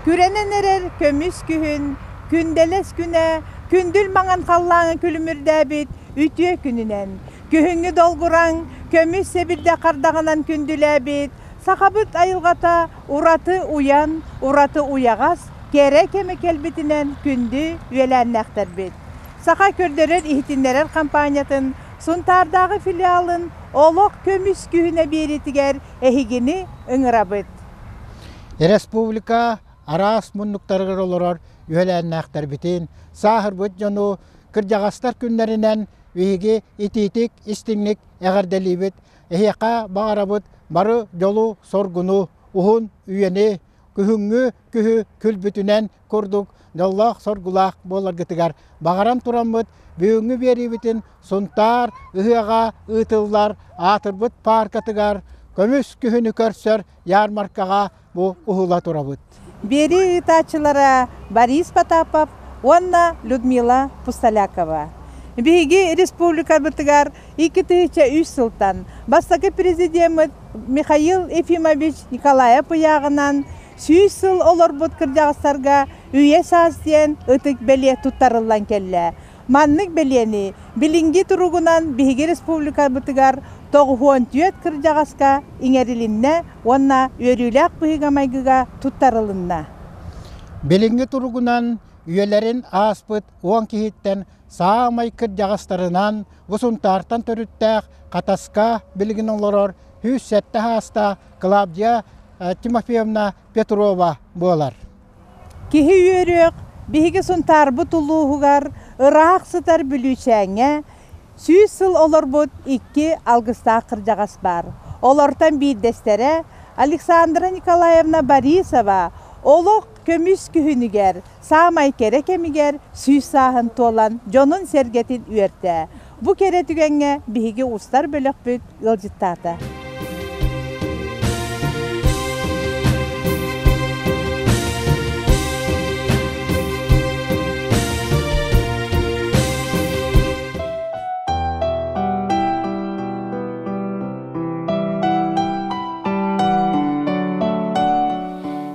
Күрэнэн эрэр көмүс күһүн, күндэлэс күнэ, күндүл маҥан халлааҥҥа күлүмүрдээбит үтүө күнүнэн, күһүҥҥү долгураҥ, көмүс сэбирдэ хардаҕынан күндүлээбит Сахабыт айылҕата Ураты уйан, ураты уйаҕас, кэрэ кэми кэлбитинэн күндү үөлээннээхтэрбит! Саха көрдөрөр-иһитиннэрэр хампаанньатын Сунтаардааҕы филиалын олох көмүс күһүнэ биэриитигэр эһигини ыҥырабыт! Республика араас муннуктарыгар олорор үөлээннээхтэрбитин, сааһырбыт дьону кырдьаҕастар күннэринэн биһиги итиитик-истиҥник эҕэрдэлиибит, Эһиэхэ баҕарабыт бары дьолу, соргуну, уһун үйэни, күһүҥҥү күһү күлбүтүнэн курдук дьоллоох-соргулаах буоларгытыгар баҕаран тураммыт бүгүҥҥү биэриибитин Сунтаар ыһыаҕа ыытыллар аатырбыт пааркатыгар көмүс күһүнү көрсөр ярмаркаҕа бу уһула турабыт. Биэрии ыытааччылара Борис Потапов уонна Людмила Пустолякова. Биһиги республикабытыгар икки тыһыынча үс сылтан бастакы президеммит Михаил Ефимович Николаев ыйааҕынан сүүс сыл олорбут кырдьаҕастарга үйэ-саас диэн ытык бэлиэ туттарыллан кэллэ. Маннык бэлиэни билиҥҥи туругунан биһиги республикабытыгар тоҕуһуон түөрт кырдьаҕаска иҥэрилиннэ уонна үөрүүлээх быһыыга-майгыга туттарылынна. Билиҥҥи туругунан үйэлэрин ааспыт уон киһиттэн саамай кырдьаҕастарынан бу Сунтаартан төрүттээх Хатаска билигин олорор сүүс сэттэ саастаах Клавдия Тимофеевна Петрова буолар. Киһи үөрүөх биһиги Сунтаарбыт улууһугар ыраах сытар Бүлүүчээҥҥэ сүүс сыл олорбут икки алгыстаах кырдьаҕас баар. Олортон биирдэстэрэ Александра Николаевна Борисова олох көмүс күһүнүгэр саамай кэрэ кэмигэр сүүс сааһын туолан дьонун-сэргэтин үөртэ. Бу кэрэ түгэҥҥэ биһиги устар бөлөхпүт ыалдьыттаата.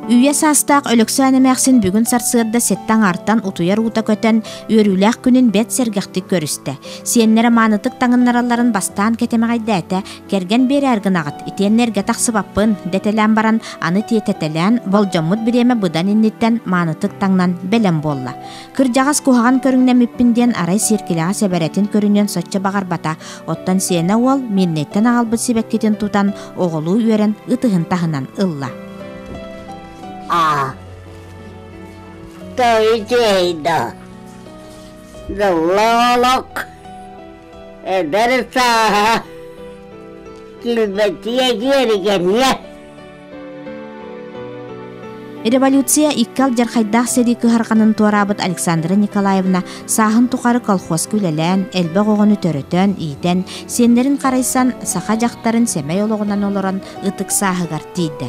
Үйэ саастаах Өлөксөөн эмээхсин бүгүн сарсыарда сэттэ аҥаартан утуйар уута көтөн, Үөрүүлээх күнүн бэт сэргэхтик көрүстэ. Сиэннэрэ маанытык таҥыннаралларын бастаан кэтэмэҕэйдээтэ, кэргэн биэрээр гынаҕыт, итиэннэ эргэ тахсыбаппын, дэтэлээн баран, аны тиэтэтэлээн, болдьоммут бириэмэ быдан инниттэн маанытык таҥнан бэлэм буолла. Кырдьаҕас куһаҕан көрүҥнэммиппин диэн арай сиэркилэҕэ сэбэрэтин көрүнүөн соччо баҕарбата, оттон сиэнэ уол Мирнэйтэн аҕалбыт сибэккитин тутан, оҕолуу үөрэн ытыһын таһынан ылла. Аа, Той-дей-до. Филолог. Эдэр сааһа. Килбэтиэ диэригэньэ. Революция икки алдьархайдаах сэрии кыһарҕанын туораабыт Александра Николаевна сааһын тухары колхозка үлэлээн, элбэх оҕону төрөтөн, иитэн, сиэннэрин харайсан, саха дьахтарын сэмэй олоҕунан олорон ытык сааһыгар тиийдэ.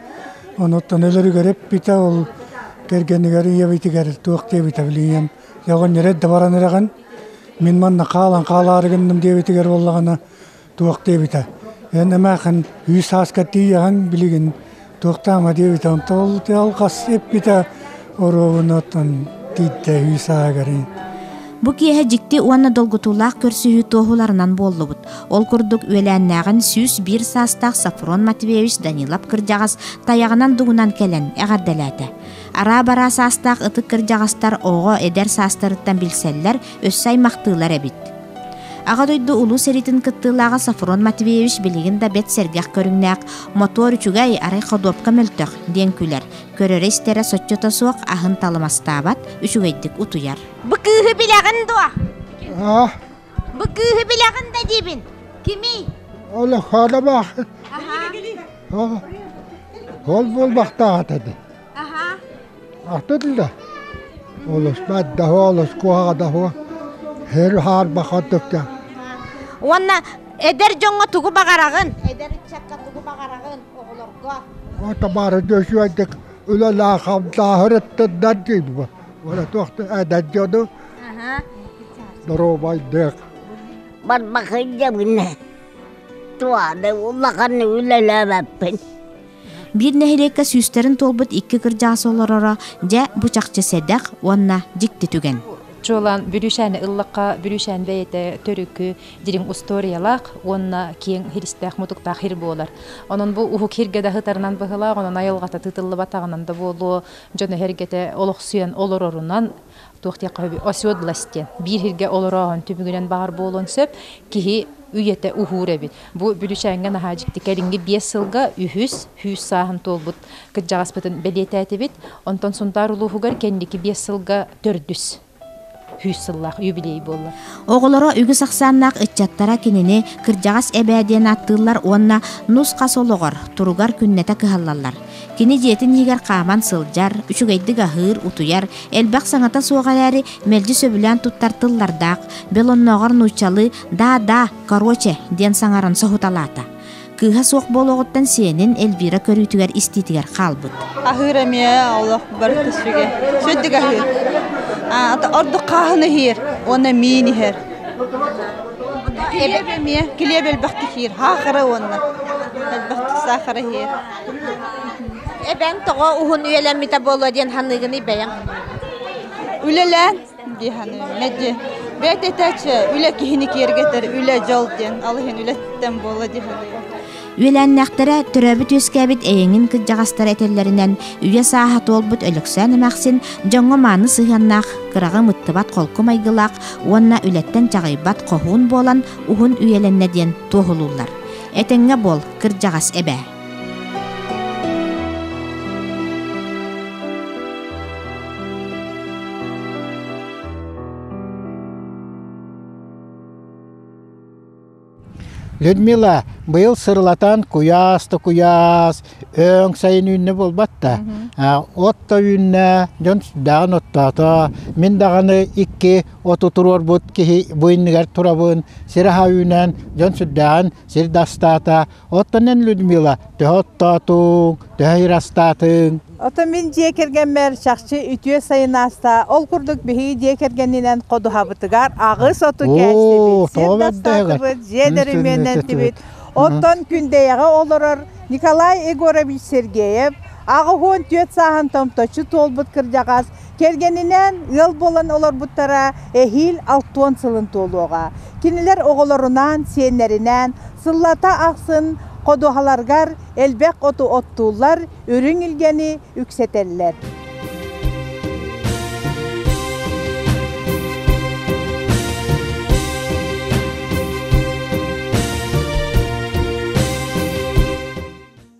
Онуттан өлөрүгэр эппитэ ол кэргэнигэр ийэбитигэр туох диэбитэ билиэм. Оҕонньор да баран эрэҕин, мин манна хаалан хаалаары гынным диэбитигэр буоллаҕына туох диэбитэ. Эн эмээхин үс сааска тиийэҕин билигин туохтаама диэбитэ. Онтон ол алҕас эппитэ оруобунатан тииттэһии саагари Бу киэһэ дьикти уонна долгутуулаах көрсүһүү туоһуларынан буоллубут. Ол курдук үөлээннээҕин сүүс биир саастаах Сафрон Матвеевич Данилов кырдьаҕас тайаҕынан дугунан кэлэн эҕэрдэлээтэ. Араа-бараа саастаах ытык кырдьаҕастар оҕо, эдэр саастарыттан билсэллэр, өссө аймахтыылар эбит. Аҕа дойду улуу сэриитин кыттыылааҕа Сафрон Матвеевич билигин да бэрт сэргэх көрүҥнээх, мотуор үчүгэй, арай ходуопка мөлтөх диэн күлэр, Көрөрө-истэрэ соччото суох аһын талымастаабат, үчүгэйдик утуйар. Бу кыыһы билэҕин дуо? А, Бу кыыһы билэҕин да диибин. Кимий? ол хаалабаах. Ол ол буолбахтаах этэ. Аха. Ахтын да. Олус баддаһа олус куһаҕадаһа. Хэр хаарбахатыктан. Уонна эдэр дьоҥҥо тугу баҕараҕын? Эдэр ыччакка тугу баҕараҕын? оҕолорго табаары дьүсүөрдүк үлэлээх хамсааһыр эттэрдэр диибит ура туохта эдэр дьону доруобайдык барбакый дьабыны туады улаханы үлэлээбэппин биир нэһилиэккэ сүүстэрин туолбут икки кырдьаас олороро дьэ бу чахчы сэдэх уонна дьикти түгэн чуолаан бүрүүшэни ыллакка бүрүүшэн бэйэтэ төрүкү дириҥ устуоруйалаах уонна киэҥ хиристээх-мутуктаах хир буолар. Онон бу уһук хиргэ да сытарынан быһылаах, онон айылҕата тыытыллыбатаҕынан да буолуо, дьоно-сэргэтэ олохсуйан олорорунан туох диэххэ сөбүй, оседлость диэн биир хиргэ олорооһун түмүгүнэн баҕар буолуон сөп. Киһи үйэтэ уһуур эбит. Бу Бүлүүчээҥҥэ наһаа дьикти кэлиҥҥи биэс сылга үһүс сүүс сааһын туолбут кырдьаҕаспытын бэлиэтээтибит. Онтон Сунтаар улууһугар кэнники биэс сылга төрдүс. Үс сыллаах юбилей буолла. Оҕолоро үгүс ахсааннаах ыччаттара кинини кырдьаҕас эбээ диэн ааттыыллар уонна нус-хас олоҕор, туругар күннэтэ кыһаллаллар. Кини дьиэтин иһигэр хааман сылдьар, үчүгэйдик аһыыр, утуйар, элбэх саҥата суох эрээри, мэлдьи сөбүлээн туттар тыллардаах, белоннооҕор нууччалыы «да-да, короче» диэн саҥарын соһуталаата. Кыыһа суох буолуоҕуттан сиэнин Эльвира көрүүтүгэр истиитигэр хаалбыт. Аһыыр эмиэ олох барыта сүгэ. Сөддүк аһыыр. Ордук хааһын иһиир, уонна миин иһэр. Килиэп эмиэ, килиэп элбэхтик иһиир, хаахара уонна элбэхтик саахара иһиир. Эбэм тоҕо уһун үйэлэммитэ буолуо диэн саныыгыный бэйэҥ? Үлэлээн Үөлээннээхтэрэ төрөөбүт-үөскээбит эйэҥин кырдьаҕастара этэллэринэн, үйэ сааһа туолбут Өлөксөөн эмэхсин дьоҥҥо мааны сыһыаннаах, кыраҕым ыттыбат холку майгылаах уонна үлэттэн чаҕыйбат хоһуун буолан уһун үйэлэннэ диэн туоһулууллар. Этэҥҥэ буол, кырдьаҕас эбээ! Людмила быйыл сырылатан куйаас-то өң сайын үүннэ болбатта. Отто үүннэ, дьон сүрдээҕин оттоото. Мин даҕаны икки оту туруорбут киһи буйнугар турабын, сир аһа үүнэн, дьон сүрдээҕин сир дастаата. Оттон эн, Людмила, төһө оттоотуҥ, төһө ыйырастаатыҥ? Ото мин дьиэ кэргэммэр чахчы үтүө сайын ааста. Ол курдук биһиги дьиэ кэргэнинэн ходуһабытыгар аҕыс оту кээстибит, сир да саатыбыт, дьиэ дөрөмүөнүн этибит. Оттон Күндэйэҕэ олорор Николай Егорович Сергеев аҕыс уон түөрт сааһын томточчу туолбут кырдьаҕас Кэргэнинээн ыал буолан олорбуттара эһиил алтуон сылын туолуоҕа. Кинилэр оҕолорунаан, сиэннэринээн сыллата ахсын ходуһаларгар элбэх оту оттууллар, үрүҥ илгэни үксэтэллэр.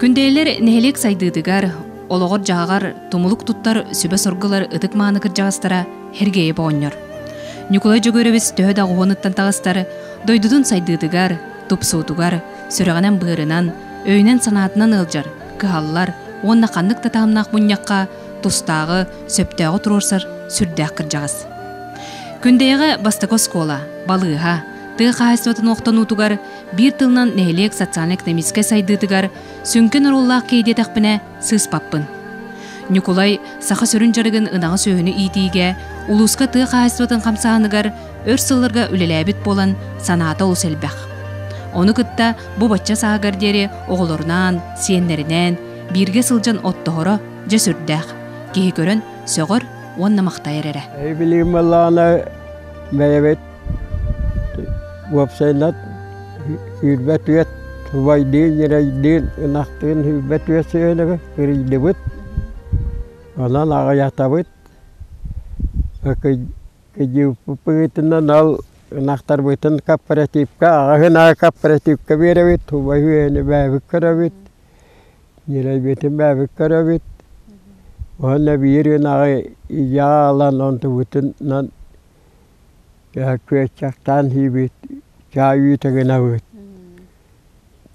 Күндэйлэр нэһилиэк сайдыытыгар, олоҕор-дьаһаҕар тумулук туттар сүбэ-соргулар ытык мааны кырдьаҕастара Хергеев оҕонньор. Ньукулай Дьөгүөрэбис төһө да оҕуһунуттан таҕыстар, дойдутун сайдыытыгар, тупсуутугар, сүрэҕинэн-быарынан, өйүнэн-санаатынан ыалдьар, кыһаллар уонна ханнык да таһымнаах мунньахха тустааҕы, сөптөөҕү туруорсар сүрдээх кырдьаҕас. Күндэйэҕэ бастакы оскуола, балыыһа, тыа хаһаайыстыбатын охтонуутугар, биир тылынан нэһилиэк социально-экономическай сайдыытыгар сүҥкэн оруоллаах киһи диэтэхпинэ сыыспаппын. Ньукулай саха сүрүн дьарыгын ынаҕы сүөһүнү иитиигэ, улууска тыа хаһаайыстыбатын хамсааһыныгар өр сылларга үлэлээбит буолан санаата олус элбэх. Ону кытта бу бачча сааһыгар диэри оҕолорунаан, сиэннэринээн, Бииргэ сылдьан оттоһоро дьэ сүрдээх. Киһи көрөн сөҕөр уонна махтайар эрэ. Билигин балаана бэйэбит уопсайынан үүрбэт үөт убайдыын, ньирэйдиин, ынахтыын үүрбэт үөт сыанабы кырыйдыбыт. Онон аҕыйатабыт. Кыдьыыппытынан ал ынахтарбытын кооперативка аҕаһын аа кооперативка биэрэбит, убайы үөһэни бээбит көрөбүт. Дьирэбитин бэбит көрөбүт уонна биир ынаҕы ийээ ылан онтубутунан күөччэктээн иибит чаай үүтэ гынабыт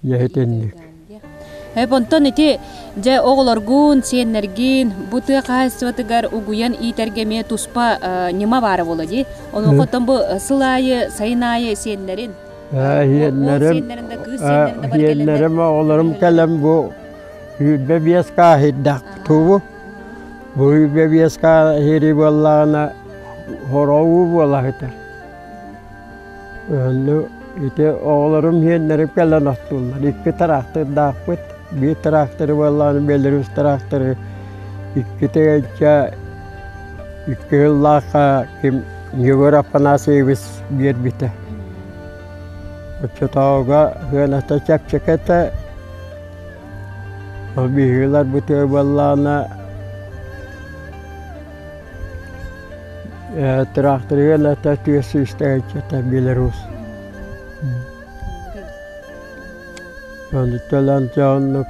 дьэһитинник Эп онтон ити дьэ оҕолоргун, сиэннэргин бу тыа хаһаайыстыбатыгар угуйан иитэргэ эмиэ туспа ньыма баара буолуо дии. Онуоха оттон бу сыл аайы, сайын аайы сиэннэрин Сиэннэрим, оҕолорум кэлэн бу үүрбэ биэс кааһыйдах тубу. Бу үүрбэ биэс кааһыйы буоллаҕына хороуу буолаһыта. Онну ити оҕолорум сиэннэрим кэлэн оттуллар. Икки трактордаахпыт. Биир тракторы буоллаҕына Беларусь тракторы иккитэ икки ыллаахха ким Егор Афанасьевич биэрбитэ. Оччотооҕуга сыаната чэпчэкэтэ, ол быһыылар бытыа буоллаҕына, тыраахтырыгын ата тыа сүүстэгэччэтэ билэрус. Ону оннук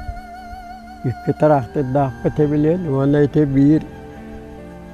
икки тыраахтырдаахпыт эбилиэн уонна ити биир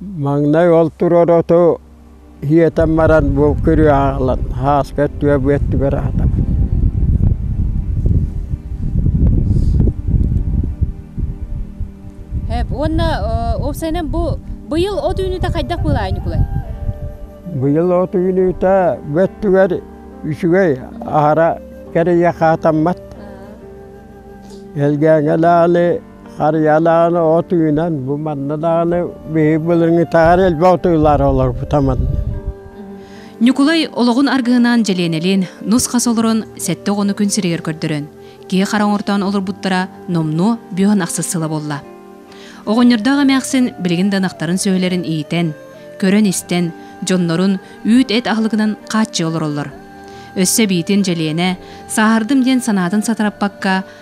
Маҥнай ол турар оту иэтэн баран бу күрүө аҕалан һааска өттүгэр бу өттүгэр аатабын уонна уопсайынан бу быйыл от үүнүүтэ хайдах быылаһа Ньукулай быйыл от үүнүүтэ бу өттүгэр үчүгэй аһара кэрийэ хаатаммат элгээҥэлээли Харыйалааҕын от үүнэн, бу манныдаҕыны биһиги былырыҥытаҕар элбэх отуйлар олорбута манна. Ньукулай олоҕун аргыһынаан дьэлиэнэлиин нус-хас олорон сэттэ оҕону күн сиригэр көрдөрөн, киһи хара оҥортоон олорбуттара номнуо бүөһүн ахсыс сыла буолла. Оҕонньордоох эмээхсин билигин да ынахтарын сүөһүлэрин иитэн, көрөн-истэн, дьоннорун үүт-эт аһылыгынан хааччыы олороллор. Өссө биитин Дьэлиэнэ сааһырдым диэн санаатын сатараппакка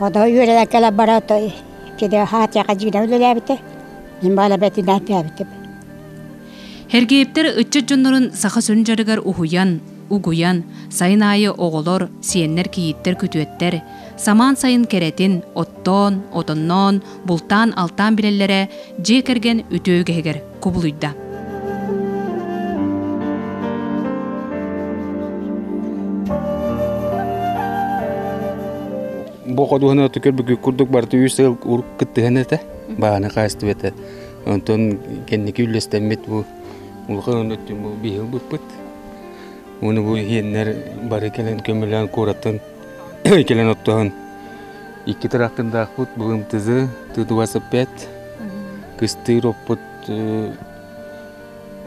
Ото үөрэнэн кэлэн баран ото итини Хаатыйаҕа дьиэнэн үлэлээбитэ, мин баалабэтинээн түһээбитим. Эргиэптэр ыччат дьоннорун саха сүрүн дьарыгар уһуйан, угуйан, сайын аайы оҕолор, сиэннэр, кийииттэр күтүөттэр самаан сайын кэрэтин оттоон, отонноон, бултаан-алтаан билэллэрэ дьиэ кэргэн үтүө үгэһигэр кубулуйда. Бу ходуһаны түкөр бүкү курдук барыта үс сыл урут кыттыһан этэ. Бааны хаастыбыта. Онтон кэнники үллэстэммит бу улахан өттүн бу биһил быппыт. Оны бу иһиэннэр бары кэлэн көмөлөөн куораттан Кэлэн оттоһун. Икки тырахтындаахпыт былымтызы тыдуасыппет кыстыыр оппут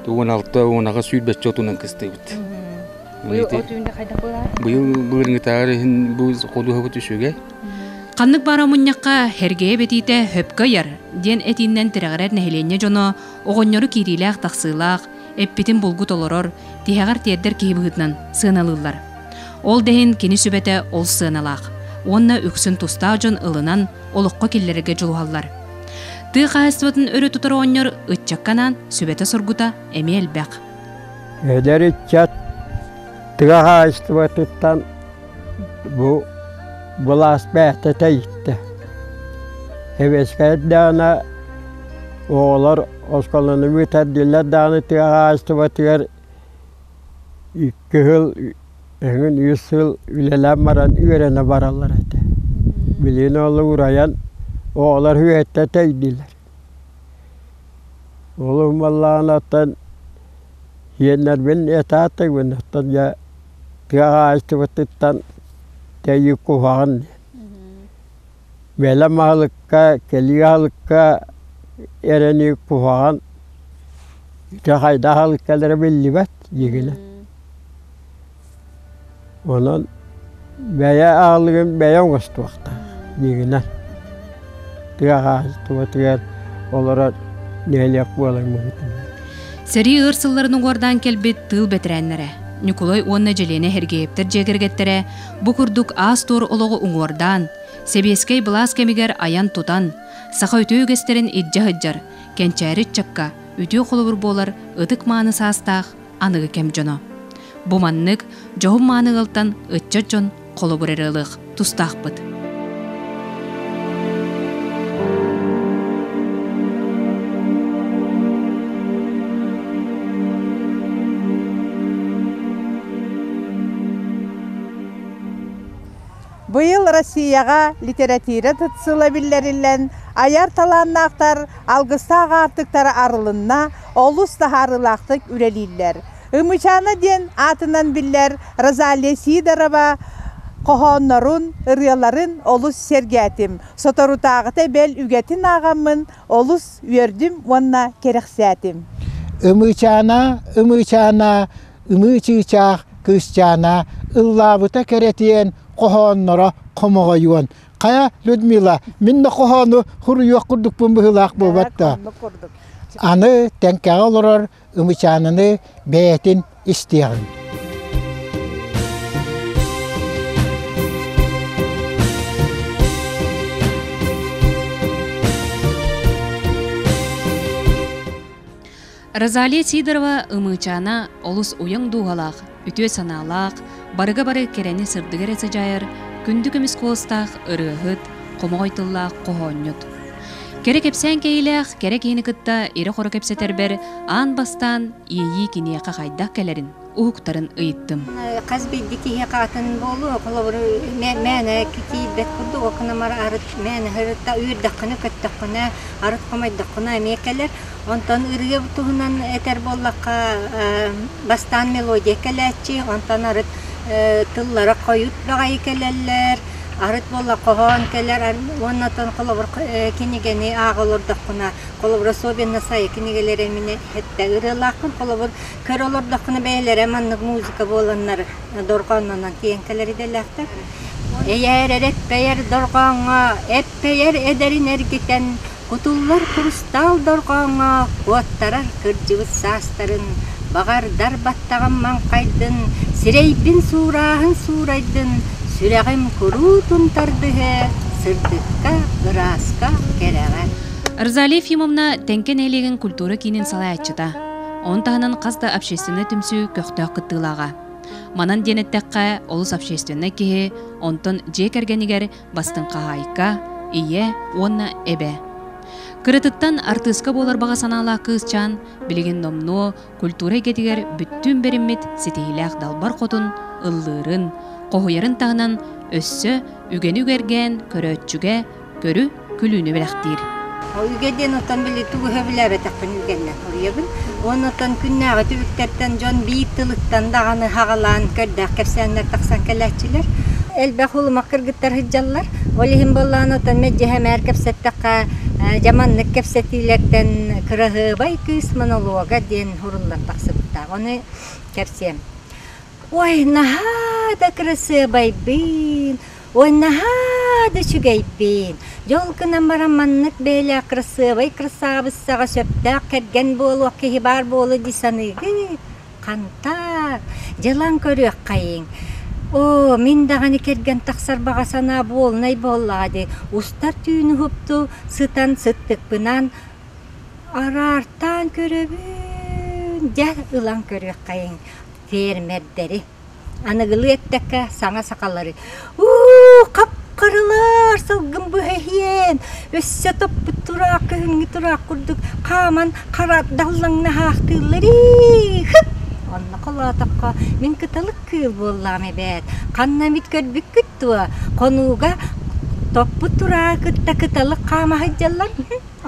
уон алта уон аҕа сүүрбэччэ отунан кыстыыбыт. Быйыл былырынгытаары иһин бу ходуһабыт үсүгэ. Ханнык баар омунньахха Хэргэйэ бэтиитэ хөпкө ыйар диэн этииннэн тирэҕирэр нэһилиэнньэ дьоно оҕонньору киириилээх-тахсыылаах, эппитин булгу толорор, тиһэҕэр тиэрдэр киһи быһыытынан сыаналыыллар. Ол да иһин кини сүбэтэ ол сыаналаах уонна үксүн тустаах дьон ылынан олоххо киллэрэргэ дьулуһаллар. Тыа хаһаайыстыбатын өрө тутар оҕонньор ыччакка анаан сүбэтэ-соргута эмиэ элбэх. Эдэр ыччат тыа хаһаайыстыбатыттан бу былаас бэхтэтэ иттэ. Эбэскэр даана оҕолор осколону бытардылар дааны тыа хаһаайыстыбатыгар Икки сыл эҥин үс сыл үлэлээн баран үөрэнэ бараллар этэ. Билигин ол урайан оҕолор үһүөттэ тэйдилэр. Олум баллаҕанаттан сиэннэрбин этаатыгын оттон дьэ тыа хаһаайыстыбатыттан тэйи куһаҕан диэн. Бэлэм аһылыкка, кэлии аһылыкка эрэни куһаҕан ити хайдах аһылык кэлэрэ биллибэт дьиҥинэ. Онон бэйэ аһылыгын бэйэ оҥостуохтаах дьиҥинэн. Тыа хаһаайыстыбатыгар олорор нэһилиэк буолар муҥутунан. Сэрии ыар сылларын уҥуордаан кэлбит тыыл бэтэрээннэрэ Ньукулай уонна Дьэлиэнэ Сергеевтэр дьиэ кэргэттэрэ Бу курдук аас-туор олоҕу уҥуордаан, сэбиэскэй былаас кэмигэр айан-тутан, саха үтүө үгэстэрин илдьэ сылдьар, кэнчээри ыччакка үтүө холобур буолар ытык-мааны саастаах аныгы кэм дьоно. Бу маннык дьоһун-мааны ыалтан ыччат дьон холобур эрэ ылыах тустаахпыт. Быйыл Россияҕа литэрэтиирэ тытсыла биллэриллэн, айар талааннаахтар алгыстаах аартыктара арылынна, олус таһаарыылаахтык үлэлииллэр. Ымычаана диэн аатынан биллэр Розалия Сидорова хоһооннорун, ырыаларын олус сэргээтим. Соторутааҕыта бэл үгэтин ааҕаммын олус үөрдүм уонна кэрэхсээтим. Ымычаана, ымычаана ыныы чыычаах кыысчаана ыллаабыта кэрэтиэн хоһоонноро хомоҕойуон хайа Людмила мин да хоһоону суруйуох курдукпун быһыылаах буолбат да аны тэҥкэҕэ олорор ымычаананы бэйэтин истиэҕиҥ Розалия Сидорова Ымыычаана олус уйаҥ дууһалаах, үтүө санаалаах, барыга-бары кэрэни сырдыгы эрэ садьайар, күндү көмүс куоластаах ырыаһыт, хомоҕой тыллаах хоһоонньут. Кэрэ кэпсээн кэйиилээх кэрэ киһини кытта ирэ-хоро кэпсэтэрбэр аан бастаан иэйии киниэхэ хайдах кэлэрин уһуктарын ыйыттым. Хас билди киһи хаатын буолуо, холобуру мээнэ киирбэт курдук окунамар арыт мээнэ ырыта үөрдэххинэ, көттөххүнэ, арыт хомойдоххуна эмиэ кэлэр. Онтон ырыа туһунан этэр буоллахха бастаан мелодия кэлээччи, онтон арыт тыллара хойут баҕайы кэлэллэр, арыт буолла хоһоон кэлэр уонна оттон холобур кинигэни ааҕа олордоххуна, холобур особенно сайа кинигэлэри мин иһэттэ ырыалаахпын, холобур Көр олордоххуна бэйэлэрэ маннык музыка буоланнар дорҕооннонон тиийэн кэлэр идэлээхтэр. Эйээр эрэппэйэр дорҕооҥҥо эппэйэр эдэрин эргитэн кутуллар курустаал дорҕооҥҥо куоттарар кырдьыбыт саастарын, баҕардар баттаҕым маҥхайдын, сирэйбин суурааһын суурайдын, сүрэҕим куруутун тардыһыа, сырдыкка, ырааска, кэрэҕэ. Розалия Ефимовна Тэҥкэ нэһилиэгин культура киинин салайааччыта. Ону таһынан хас да общественнай түмсүү көхтөөх кыттыылааҕа. Манан диэн эттэххэ, олус общественнай киһи, онтон дьиэ кэргэнигэр бастыҥ хаһаайка, ийэ уонна эбэ. Кыратыттан артыыска буолар баҕа санаалаах кыысчаан билигин номнуо культура эйгэтигэр бүттүүн бэриммит ситиһиилээх далбар хотун ыллыырын, хоһуйарын таһынан өссө үгэни үгэргээн көрөөччүгэ көрү, күлүүнү бэлэхтиир. Ойуга диэн оттон били тугу өһө билээбэтэхпин үгэннэ хоруйабын. Уонна оттон күннээҕи түбүктэртэн дьон биир тылыттан даҕаны хаҕалаан көрдөөх кэпсээннэр тахсан кэлээччилэр. Элбэх улумах кыргыттар сылдьаллар. Ол иһин буоллаҕына оттон мэддьэһэмээр кэпсэттэххэ дьаманнык кэпсэтиилэртэн кыраһыабай кыыс монолога диэн уруллан тахсыбыттаах. Ону кэпсиэм. Ой, наһаа да кырасыабайдыын, Ой, наһаа да үчүгэйбин. Дьол гынан баран маннык бэйэлээх кырасыабай кырсаабыссаҕа сөптөөх кэргэн буолуох киһи баар буолуо дии саныыгыт? Хантаак, дьылан көрүөххэйиҥ. Оо, мин даҕаны кэргэн тахсар баҕа санаа буолунай буоллаҕа дии. Устар түүн уһукту сытан сыттыкпынан араартаан көрөбүн. Дьэ, ылан көрүөххэйиҥ фермердэри. Аныгылыы эттэххэ, саҥа сахалары «уу, хап-харалар, сылгым быһа иһиэн, өссө топпут тураах кыһыҥҥы тураах курдук хааман хара даллаҥна аһаахтыыллар ии, хып!» Онно холоотоххо, мин кыталык кыыл буоллаҕым эбээт, ханна эмит көрбүккүт дуо, хонууга топпут турааҕы кытта кыталык хаама сылдьаллар,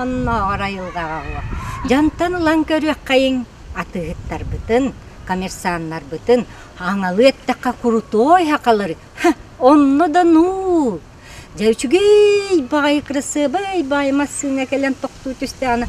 оннооҕор айылҕаҕа уо, дьантан ылан көрүөххэйиҥ Атыыһыттарбытын, коммерсаннарбытын аҥалы эттэххэ крутой хакалары онно да нуу! Дьэ үчүгэй баҕайы кырасыабай баайа массыына кэлэн тохтуу түстэҕинэ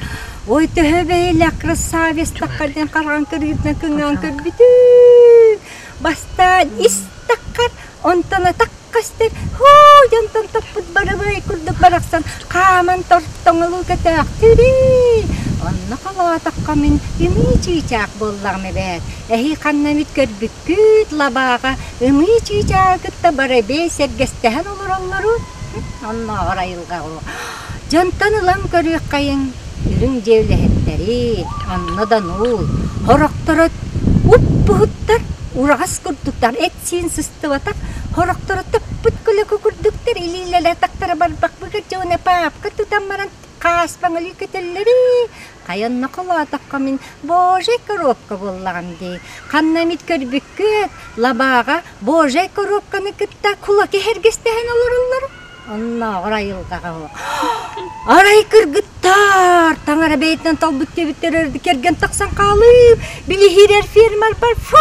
ой төһө бэйэлээх красавецтахха диэн хараҕын кырыытынан кыҥаан көрбүтүй! Бастаан истэххэр онтон атах Кастык һуу дьонтон топпут бырабыай курдук барахсан хааман тортоҥолуу көтөөхтүрүү. Онно холоотоххо мин ымыы чыычаах буоллаҕым эбээт. Эһии ханна эмит көрбүккүт лабааҕа ымыы чыычааҕы кытта барабиай сэргэстэһэн олороллору оннооҕор айылҕаҕа Дьонтон ылан көрүөххэйиҥ, үрүҥ дьиэлэһиттэри, онно да нуул, хорохторо уппуһуттар, ураҕас курдуктар, эт-сиин сыстыбатах хорохторо топпут көлөкө курдуктар илиилэрэ-атахтара барбахбыгар дьоно паапка тутан баран хааспаҥ өлүү көтөллөр ээ, хайа онно холоотоххо мин божей коробка буоллаҕым дии, ханна эмит көрбүккүт, лабааҕа божей коробканы кытта кулаки эһэргэстэһэн олороллор. Оннооҕор айылҕаҕа оһо Арай кыргыттаар таҥара бэйэтинэн талбыт кэбиттэр өрдү кэргэн тахсан хаалыып билиһирэр фермер бар фу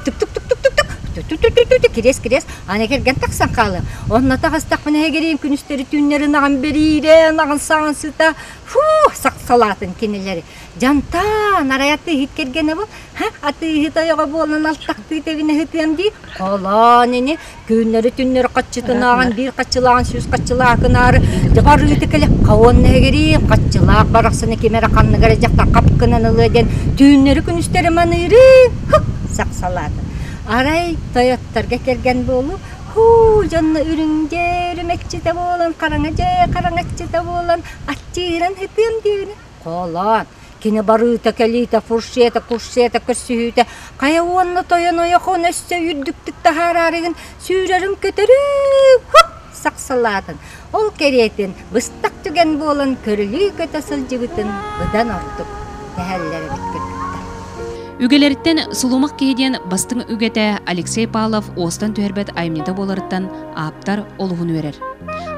тук тук тук тук тук тук ту-ту-ту-ту-ту кириэс кириэс аны кэргэн тахсан хаалыа онно таҕыстахпына эгириим күнүстэри түүннэри ынаҕын бэриирэ ынаҕын саҕан сыта фу сахсалаатын кинилэри дьантаан арай атыыһыт кэргэнэ бу һэ атыыһыт ойоҕо буолан алтахтыы тэгинэ сытыам дии холоон ини Күннэри түннэри хаччытынааҕын биир хаччылааҕын сүүс хаччылаакынаары тыга арыыты кэлэ хаонна эгирии хаччылаах барахсаны ким эрэ ханныгар эдьэхтэ хапкынан ылыа диэн түүннэри күнүстэри маныырыы сахсалаата. Арай тойотторго кэргэн буолуу һуу дьонно үрүҥ-дьэ үрүмэкчитэ буолан хараҥа-дьэ хараҥаччыта буолан аччыыран һытыам диэри Хоолоон, кини барыыта-кэлиитэ, фуршета-куршета көрсүһүүтэ хайа уонна тойон ойохоон өссө үрдүктүк таһаараарыгын сүүрэрин көтөрүү һук сахсалаатын, ол кэриэтин быстах түгэн буолан көрүлүү көтө сылдьыбытын быдан ордук сэһэллэр эбит кыргыттар. Үгэлэриттэн Сулумах киһи диэн бастыҥ үгэтэ Алексей Павлов уостан түһэрбэт айымньыта буоларыттан ааптар олуһун үөрэр.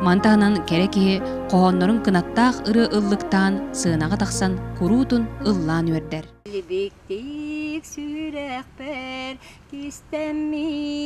Ман таһынан кэрэ киһи хоһооннорун кынаттаах ырыа ыллыктаан сыанаҕа тахсан куруутун ыллаан үөрдэр. Билбиктик сүрэхпэр кистэммитэ